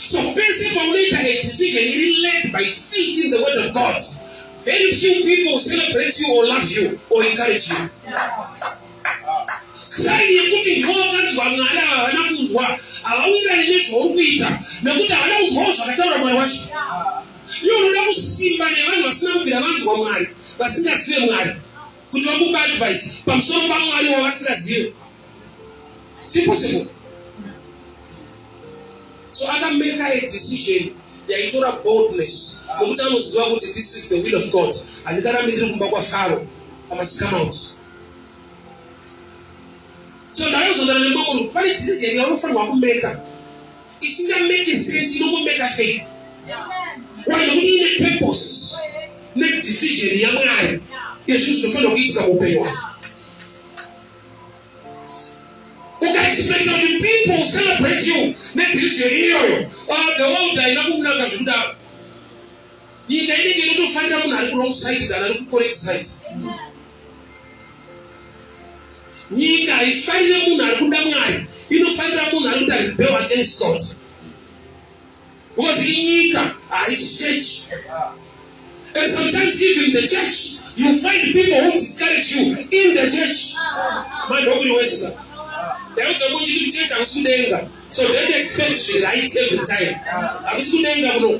[SPEAKER 1] So pese paunoita a decision iri led by faith in the word of God, very few people will celebrate you or love you or encourage you. Saini yekuti ndiwo wakanzwa Mwari ava havana kunzwa, havawirirani nezvauri kuita nekuti havana kunzwawo zvakataura Mwari wacho. Iwe unoda kusimba nevanhu vasina kubvira vanzwa Mwari, vasingazive Mwari, kuti vakupa advice pamusoro paMwari wavasingazive. sipossible so akameka a decision yaitora boldness nokuti anoziva kuti this is the will of god handikarambi ndiri kumba kwafaro amasikamount so ndakazondana nembokono pane decision yaunofanirwa kumeka isingameke sense inokumeka faith why nokuti ine purpose nedecision yamwari yezvinhu zvinofanirwa kuitika muupenyu hwako ukaexpecta kuti people celebrate you nedecision iyoyo ah, the world haina kunaka zvekudaro nyika inenge inotofarira munhu ari kurong side than ari kucorrect side nyika haifarire munhu ari kuda mwari inofarira munhu ari kuti ari rebel against god Because inyika haisi church. And sometimes even the church, you find people who discourage you in the church. Mandokuri wesika. Ndaudza kuti kuti church hakusi kudenga. So don't expect zviri right every time. Hakusi kudenga kuno.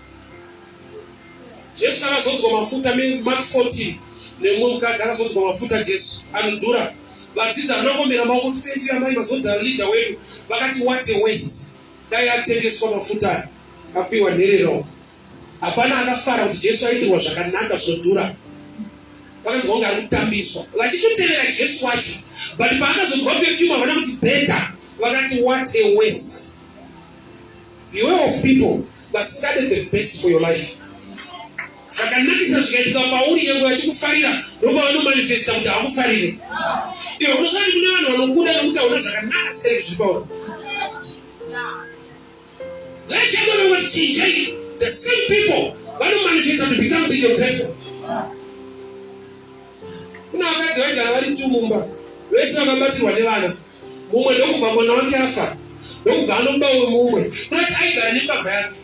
[SPEAKER 1] Jesu akazodzwa mafuta me Mark 14 nemumwe mukadzi akazodzwa mafuta Jesu anodhura vadzidzi havana kuomera maoko kuti tendira mai vazodzara leader wedu vakati what a waste dai atengeswa mafuta aya apiwa nherero hapana akafara kuti Jesu aitirwa zvakanaka zvinodhura vakanzwa kunge ari kutambiswa vachitotevera Jesu wacho but paakazodzwa perfume havana kuti better vakati what a waste Beware of people vasingade the best for your life. Zvakanakisa zvikaitika pauri nyange vachikufarira ndopavanomanifesta kuti hakufarire. Iwe unosati kune vanhu vanokuda nekuti hauna zvakanaka sei zviri pauri. Life yako vamwe vachichinjei the same people vanomanifesta to become the devil. Kuna vakadzi vaigara vari tumumba vese vakabatsirwa nevana. mumwe ndokubva mwana wake afa ndokubva anoba umwe mumwe kunati aigara nembavha yake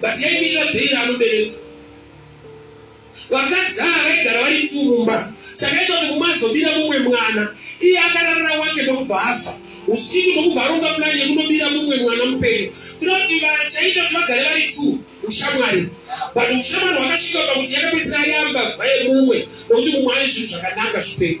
[SPEAKER 1] but yaimirira dhei raanobereka vakadzi ava vaigara vari tumumba chakaita kuti mumwe azobira mumwe mwana iye akararira wake ndokubva afa usiku ndokubva aronga pulani yekunobira mumwe mwana mupenyu kuda kuti vachaita kuti vagare vari two ushamwari but ushamwari hwakasvika pakuti yakapedzisira yamba vayemumwe nokuti mumwe ane zvinhu zvakananga zvipenyu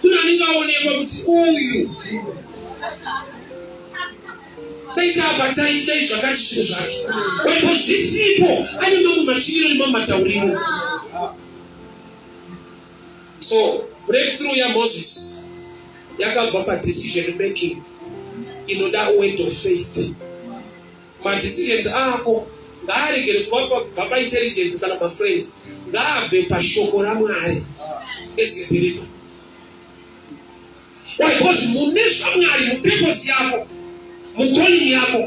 [SPEAKER 1] Kune anenge aonekwa kuti uyu daita abatai dai zvakati zviro zvake waipo zvisipo ane mamwe machiiro nemamwe matauriro so breakthrough yamoses yakabva padecision making inoda word of faith Ma decisions ako ngaaregere kuva pa kubva pa intelligence kana ma friends ngaabve pa shoko ra Mwari as a believer. Why? Because mune zva Mwari mu purpose yako mu calling yako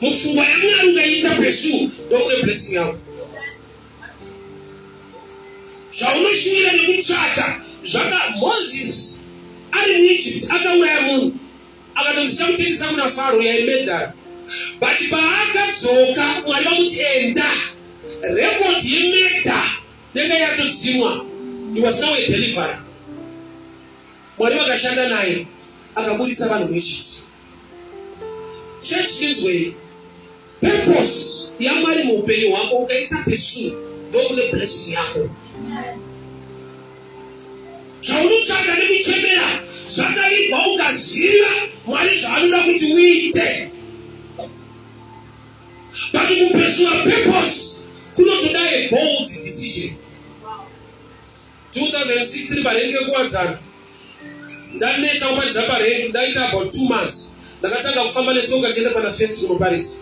[SPEAKER 1] mu pfungwa ya Mwari ungaita pursue ndomune blessing yako. Zvaunoshuvira nekutsvaka zvaka Moses ari mu Egypt akauraya munhu akati ndichamutengesa kuna faro uye aimedhara but paakadzoka mwari vamuti enda record yemedha yanga yatodzimwa he was now a delivery mwari vakashanda naye akaburitsa vanhu vechiti chechi tinzwei Purpose yaMwari muupenyu hwako ukaita pursue ndokune blessing yako. Zvaunotsvaga nekuchemera zvakavigwa ukaziva Mwari zvaanoda kuti uite. But kupursuer purpose kunotoda a bold decision. 2016 parengi yekuwadzana ndaneta kuparidza parengi ndaita about two months ndakatanga kufamba netsoka tichienda pana first kunoparidza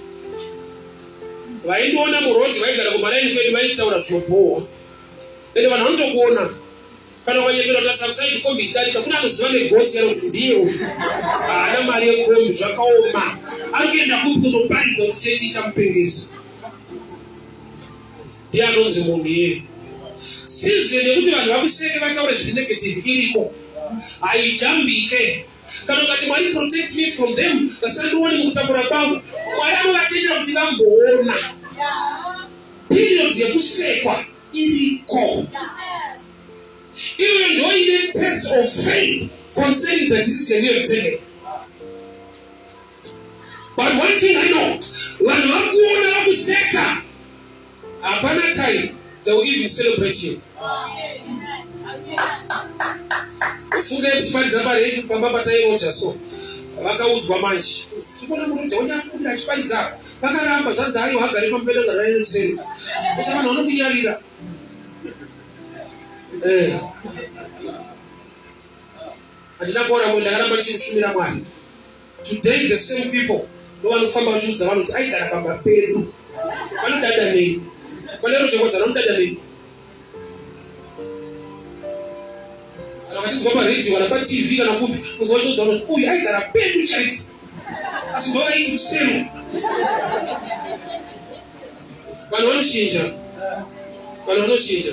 [SPEAKER 1] vaindiona muroad vaigara kumaraini kwedu vaitaura zvinobhowa ende vanhu vanotokuona kana ukanyepera kuti asakusaidi kombi ichidarika kune anoziva negotsi yaro kuti ndiye uyu haana mari yekombi zvakaoma ari kuenda kupi kunoparidza kuti chechi ichamupengesa Ndiye anonzi munhu iye. Sizwe nekuti vanhu vakuseke vataure zviri negative iriko. Haijambike. Kana ukati Mwari protect me from them vasandione mukutambura kwangu. Mwari anovatendera kuti vamboona. Period yekusekwa iriko. Iwe ndoine test of faith concerning the decision you have taken. But one thing I know, vanhu vakuona vakuseka, hapana time they will even celebrate you. Ufunge kuti paridza mari yedu pamba patairoja so vakaudzwa manje tikuona muroja wenyu akumbira achiparidza apa vakaramba zvanzi ayo hagari pamubeda zvaraireseni kusha vanhu vanokunyarira eh. handina kuona mwe ndakaramba ndichikushumira mwari Today the same people ndovanofamba vachiudza vanhu kuti aigara pamba pedu vanodada nei vanero chekodzana vanodada nei kana vachinzwa paredio kana patv kana kupi kuzovatoudza vanhu kuti uyu aigara pedu chaipo asi ndovaiti kusemu vanhu vanochinja vanhu vanochinja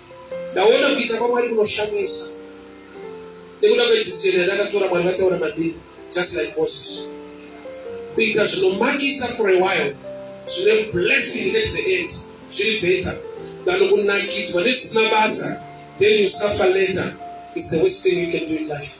[SPEAKER 1] Ndaona kuita kwaMwari kunoshamisa nekuda kwedzidziso yandakatora. Mwari vataura mandiri, just like Moses. Kuita zvinomakisa for a while zvine blessing at the end zviri better than kunakidzwa nezvisina basa then you suffer later is the worst thing you can do in life.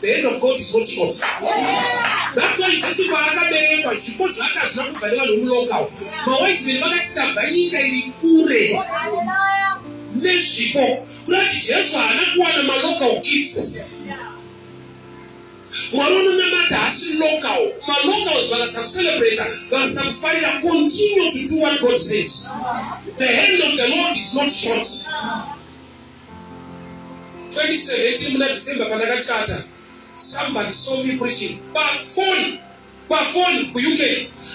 [SPEAKER 1] The hand of God is not short. That's why Jesu paakaberekwa zvipo zvaakazvina kubva nevanhu vemulocal. Mawaizimeni vakati tabva nyika iri kure nezvipo kurati Jesu haana kuwana malocal gifts. Mwari unonamata haasi local. Malocals vakasakucelebrata vakasakufarira continue to do what God says. The hand of the Lord is not short. 2017 muna December pandakachata somebody saw me preaching pafoni pafoni kuuk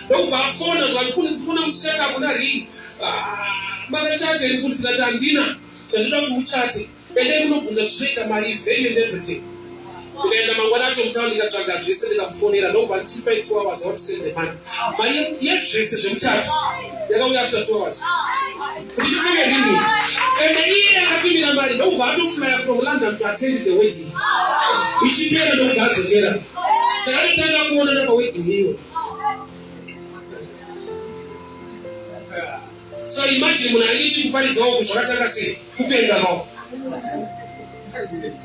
[SPEAKER 1] ndokubva afona zvandikuona muchata kuna ring ah, makachata iri futi ndikati handina chandinoda kuti muchate endai munobvunza zvinoita mari vheni and everything ndikaenda mangwana acho mutown ndikatsvaga zvese ndikamufonera ndokubva ndichiri pai two hours awa tisend the money mari yezvese zvemuchato yakauya after two hours kuti ndipenge rini ende iye akatumira mari ndokubva atoflyer from london to attend the wedding ichipera ndokubva adzokera takatotanga kuonana pawedding iyo so imagine munhu aiti kuparidzawo kuzvakatanga sei kupenga mawo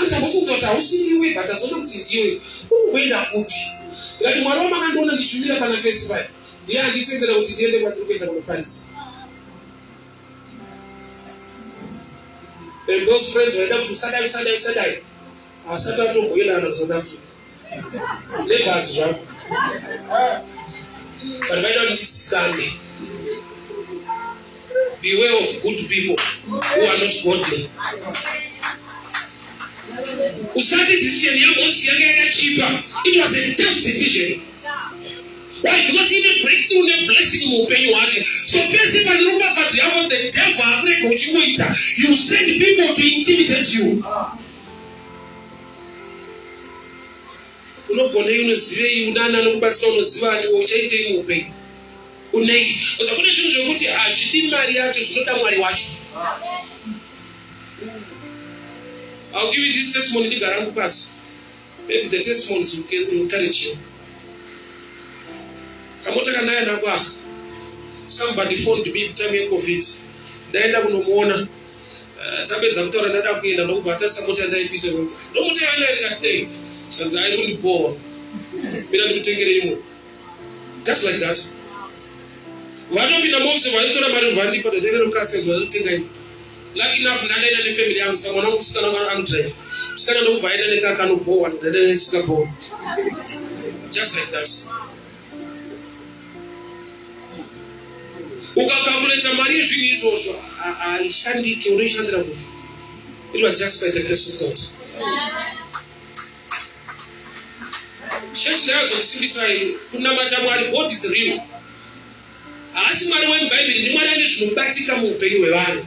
[SPEAKER 1] Anta vofunga kuti hausi ndiwe but azoona kuti ndiwe. Uri kuenda kupi? Ndikati mwari wamakandiona ndichumira pana first pai ndiye anditendera kuti ndiende kwandiri kuenda kunoparidza. And those friends vaida kuti usadai usadai usadai. Asati atomboenda kana kuSouth Africa. Neighbors zvangu. But vaida kuti nditsikambe. Beware of good people who are not godly. Usati decision yaMosi yanga yakachipa. It was a tough decision. Why? Because in a breakthrough ne blessing muupenyu hwake. So pese pane ropafadzo yako the devil akurega uchingoita. You send people to intimidate you. unogonei unozivei unani anokubatsira unozivani uchaitei muupenyu unei osa kune zvinhu zvekuti hazvidi mari yacho zvinoda mwari wacho I'll give you this testimony ndigara hangu pasi maybe the testimony is encouraging kamota kanaya nako aka somebody phoned me time yecovid ndaenda kunomuona Eh, tapedza kutaura ndada kuenda ndokubva atarisa mota ndaipita nonzi ndomota yanga iri kati dei zvanzi ari kundibowa mina ndikutengere imwe just like that vanopinda mose vaitora mari vandipa ndatengere mukasezi vanotenga imwe lucky enough ndandaenda nefamily yangu sa mwana wekusikana mwana anodrive musikana ndokubva aenda nekakanobowa ndandaenda nesingabowa just like that ukakamureta mari yezvinhu izvozvo haishandike unoishandira ku it was just by the grace of god chechi ndayazokusimbisai kunamata mwari god is real haasi mwari wemubhaibheri ndimwari ane zvinobatika muupenyu hwevanhu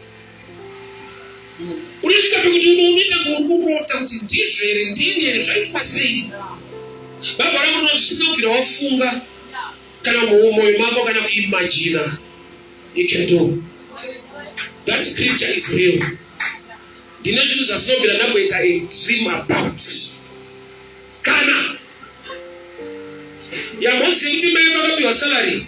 [SPEAKER 1] unosvika pekuti unoita kurota kuti ndizvo here ndini here zvaitwa sei baba rangu rinoti zvisina kubvira wafunga kana mumoyo mako kana kuimajina you can do that scripture is real ndine zvinhu zvasinobvira ndakuita a dream about kana yamozivi kuti mai vakapiwa salary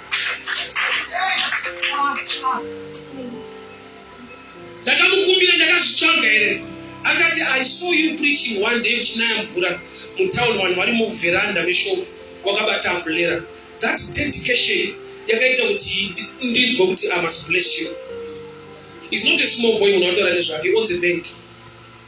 [SPEAKER 1] ndakamukumbira ndakazvitsvaga here akati i saw you preaching one day uchinaya mvura mutown vanhu vari muveranda mesho wakabata ambulera that dedication yakaita kuti ndinzwa kuti i must bless you is not a small boy unotaura nezvake on the bank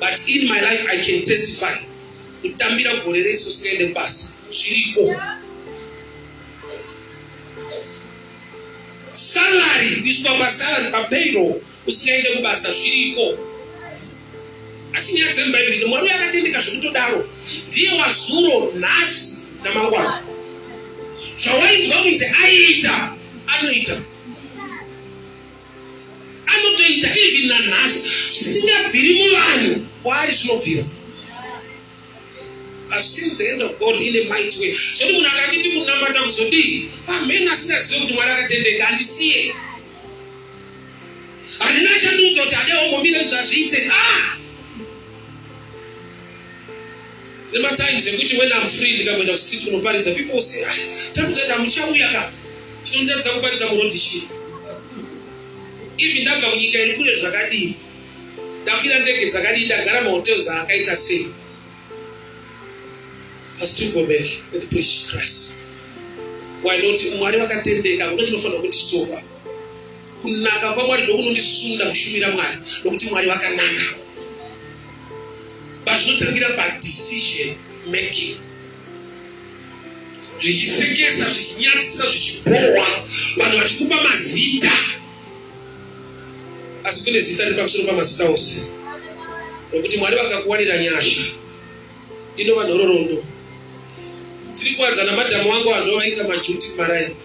[SPEAKER 1] but in my life i can testify kutambira gore rese usingaende kubasa zviriko salary kuiswa pasalary papayroll usingaende kubasa zviriko asi nyaya dzemubhaibheri ndi mwari uyo akatendeka zvekutodaro ndiye wazuro nhasi namangwana zvawainzwa kunzi aiita anoita anotoita even nanhasi zvisingabviri muvanhu kwaari zvinobvira I've seen the hand of God in a mighty way. Zvoti munhu akanditi kunamata kuzodii pamhene asingazive kuti mwari akatendeka handisiye handina chandiudza kuti adeombomira izvazviite ah! Kune matimes ekuti when I'm free ndikakuenda kustreet kunoparidza people say ah, tafutati hamuchauya ka tinondatidza kuparidza murodhi chii even ndabva kunyika iri kure zvakadii ndakwira ndege dzakadii ndagara mahotels aakaita sei I still go back and preach Christ. Why not? Mwari vakatendeka kuti tinofanira kuti soka. Kunaka kwaMwari ndokunondisunda kushumira Mwari nokuti Mwari vakanaka. pazvinotangira padecision making zvichisekesa zvichinyadzisa zvichibhohwa vanhu vachikupa mazita asi kune zita riri pamusoro pamazita ose nokuti mwari vakakuwanira nyasha inova nhororondo tiri kuwanza namadhamu wangu vanhu vaita majuti maraini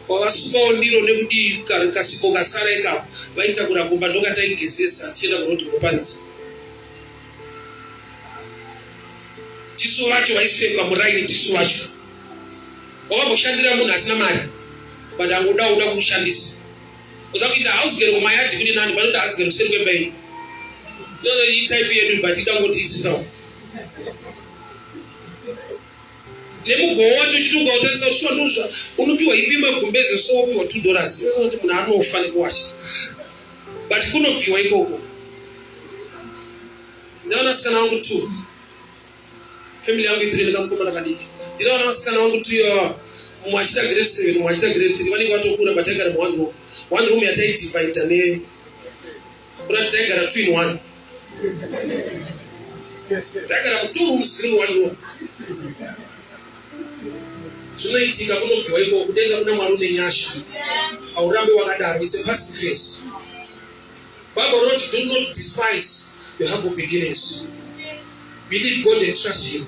[SPEAKER 1] Kwavasvikawo ndiro nekudii kasipo kasara ikapo vaitakura kumba ndokataigezesa tichienda kuroad kuparidza. Tisu vacho vaisekwa muraini tisu vacho. Wavamboshandira munhu asina mari but angoda uda kumushandisa. Uza kuita house girl kumayadi kuti nani vanoti house girl kuseri kwemba iyi. Ndono iyi type yedu but ida ngotiitsisawo. nemugowa wacho uchiti ukautarisa kuti swanozva unopiwa ipi magumbeze so wopiwa two dollars inoziva kuti munhu anofa nekuwasha but kunobviwa ikoko ndinaona sikana wangu two family yangu itiri ndikamukomana kadiki ndinaona vasikana wangu two ivava mumwe achita grade seven mumwe achita grade three vanenge vatokura but aigara muone room one room yataidivida ne Kurati taigara two in one. Ndagara mutumbu muzimu wandiwo. Zvinoitika kunobviwa iko kudenga kuna Mwari une nyasha. Haurambe wakadaro. It's a past phase. Bible wrote do not despise your humble beginnings. Believe God and trust him.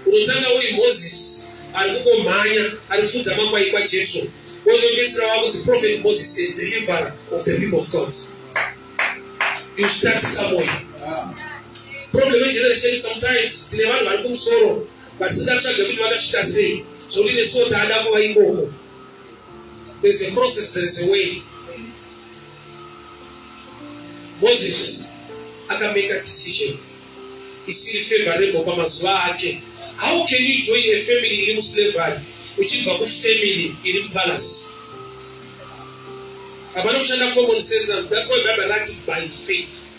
[SPEAKER 1] Unotanga uri Moses ari kungomhanya ari kufudza makwai kwaJetro, wozopedzisira wava kunzi Prophet Moses the deliverer of the people of God. You start somewhere. Problem yegeneration sometimes tine vanhu vari kumusoro vasingatsvage kuti vakasvika sei zvekuti nesuwo taada kuva ikoko. There's a process, there's a way. Moses akamake a decision isiri favorable pamazuva ake. How can you join a family iri muslavery uchibva kufamily iri mupalace? Hapana kushanda common sense. That's why Bible writes by faith.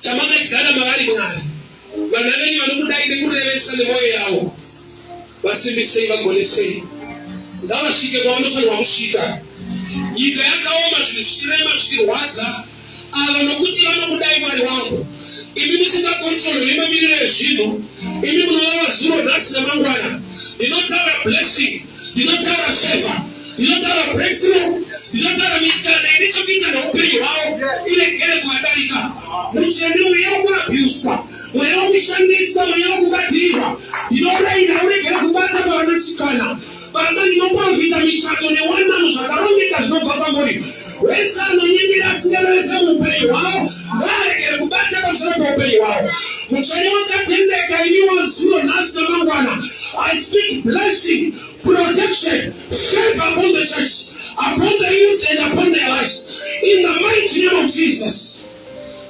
[SPEAKER 1] chamakadyara mavari Mwari. Vana venyu vanokudai nekurevesa nemwoyo yavo. Vasimbisei, vagonesei. Ngavasvike kwavanofanirwa kusvika. Nyika yakaoma, zvinhu zvichirema, zvichirwadza. Ava nokuti vanokudai Mwari wangu. Imi musingakontrole nemamiriro ezvinhu. Imi munoona zuro, nhasi nemangwana. Ndinotaura blessing, ndinotaura favor, ndinotaura breakthrough, ndinotaura mikana ine chekuita neupenyu hwavo iregere kuvadarika. Mucheni mweya wekuabhuswa, mweya wekushandiswa, mweya wekubatirirwa, ndinouraina uregere kubata pavanasikana. Baba, ndinoprofita michato newanano zvakarongeka zvinobva kwamuri. Wese anonyimira asingana vese muupenyu hwavo ngaaregere kubata pamusoro peupenyu hwavo. Mutsvene wakatendeka imi wazuva nhasi namangwana. I speak blessing, protection, favor upon the church, upon the youth and upon their lives. In the mighty name of Jesus.